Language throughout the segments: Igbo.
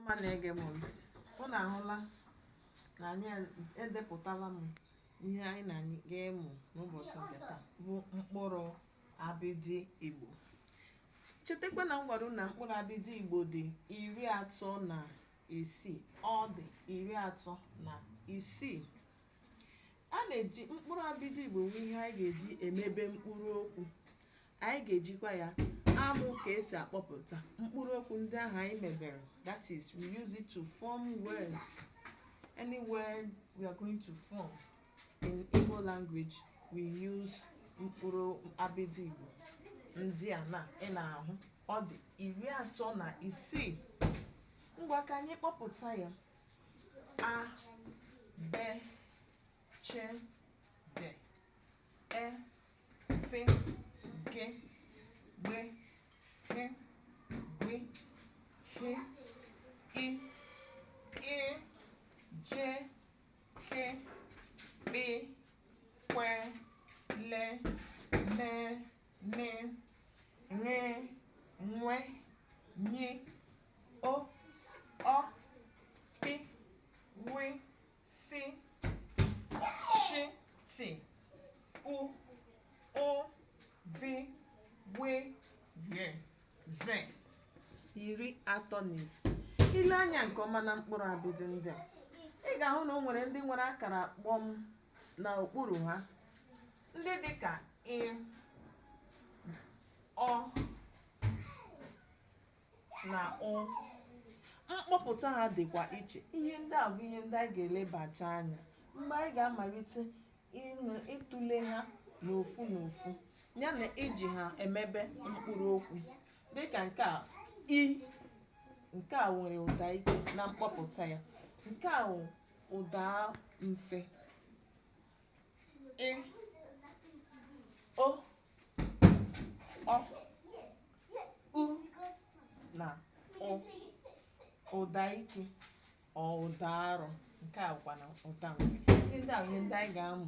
ọma na-ege m ntị unu ahụla na anyị edepụtala m ihe anyị na anyị ga-emụ n'ụbọchị nke taa bụ mkpụrụ abịdị Igbo chetakwa na m gwara unu na mkpụrụ abịdị Igbo dị iri atọ na isii ọ dị iri atọ na isii a na-eji mkpụrụ abịdị Igbo bụ ihe anyị ga-eji emebe mkpụrụ okwu anyị ga-ejikwa ya amụ ka esi akpọpụta mkpụrụ okwu ndị ahụ anyị mebere that is we use it to form words any word we are going to form in Igbo language we use mkpụrụ abịdị Igbo ndị a na ị na-ahụ ọ dị iri atọ na isii ngwa ka anyị kpọpụta ya a be che de e fe ke gbe he gbe he i e je ke kpe kwe le me ne re nwe nye o ọ pi wi si shi ti u ụ vi we ye ze iri atọ na isii i lee anya nke ọma na mkpụrụ abịdị ndị a ị ga-ahụ na o nwere ndị nwere akara kpọm na okpuru ha ndị dị ka ị ọ na ụ mkpọpụta ha dịkwa iche ihe ndị a bụ ihe ndị anyị ga-elebacha anya mgbe anyị ga-amalite ịnụ ịtụle ha n'ofu n'ofu ya na iji ha emebe mkpụrụ okwu dịka nke a i nke a nwere ụda ike na mkpọpụta ya nke a wụ ụda mfe ị o ọ u na ụ ụda ike ọ ụda arọ nke a bụkwa na ụda mfe ihe ndị a bụ ihe ndị anyị ga-amụ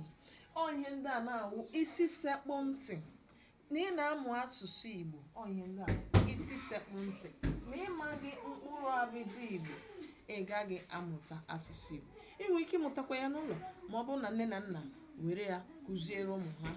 ọ ihe ndị a na-awụ isi sekpụ ntị na ị na-amụ asụsụ Igbo ọ ihe ndị a bụ isi sekpụ ntị ma ị maghị mkpụrụ abịdị Igbo ị gaghị amụta asụsụ Igbo ị nwere ike ịmụtakwa ya n'ụlọ ma ọ bụrụ na nne na nna were ya kụziere ụmụ ha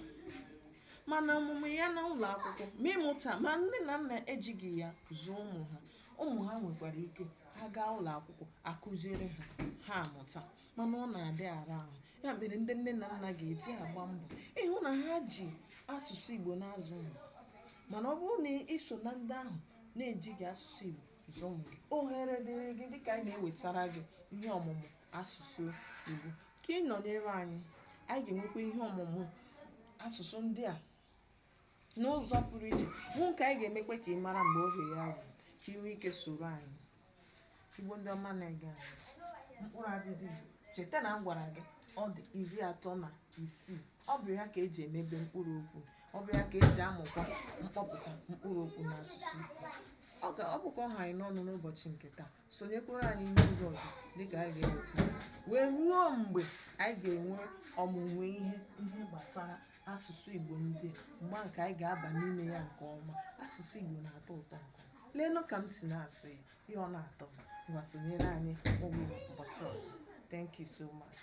mana ọmụmụ ya na ụlọ akwụkwọ ma ịmụta ma nne na nna ejighị ya zụọ ụmụ ha ụmụ ha nwekwara ike ha gaa ụlọ akwụkwọ a kụziere ha ha amụta mana ọ na-adị ara ahụ ya mere ndị nne na nna ga-eji agba mbọ ịhụ na ha ji asụsụ Igbo na-azụ ụmụ mana ọ bụrụ na ị so na ndị ahụ na-ejighị asụsụ Igbo zụọ ụmụ gị ohere dịrị gị dịka anyị na-ewetara gị ihe ọmụmụ asụsụ Igbo. Ka ị nọnyere anyị, anyị ga-enwekwa ihe ọmụmụ asụsụ ndị a n'ụzọ pụrụ iche bụ nke anyị ga-emekwa ka ị mara mgbe oge ya ruru ka ị nwee ike soro anyị. Igbo ndị ọma na-ege anyị ntị, mkpụrụ abịdị Igbo cheta na m gwara gị ọ dị iri atọ na isii ọ bụ ya ka eji emebe mkpụrụ okwu ọ bụ ya ka eji amụkwa mkpọpụta mkpụrụ okwu n'asụsụ Igbo. Ọ ga- ọ bụkwa ọ ha anyị n'ọnụ n'ụbọchị nke taa sonyekwara anyị n'oge ọzọ dịka anyị ga-eweta ya. wee ruo mgbe anyị ga-enwe ọmụmụ ihe ndị gbasara asụsụ Igbo ndị a mgbe ahụ ka anyị ga-aba n'ime ya nke ọma asụsụ Igbo na-atọ ụtọ nke ọma leenụ ka m si na-asụ ya ihe ọ na-atọ m ngwa sonyere anyị ụbọchị ọzọ thank you so much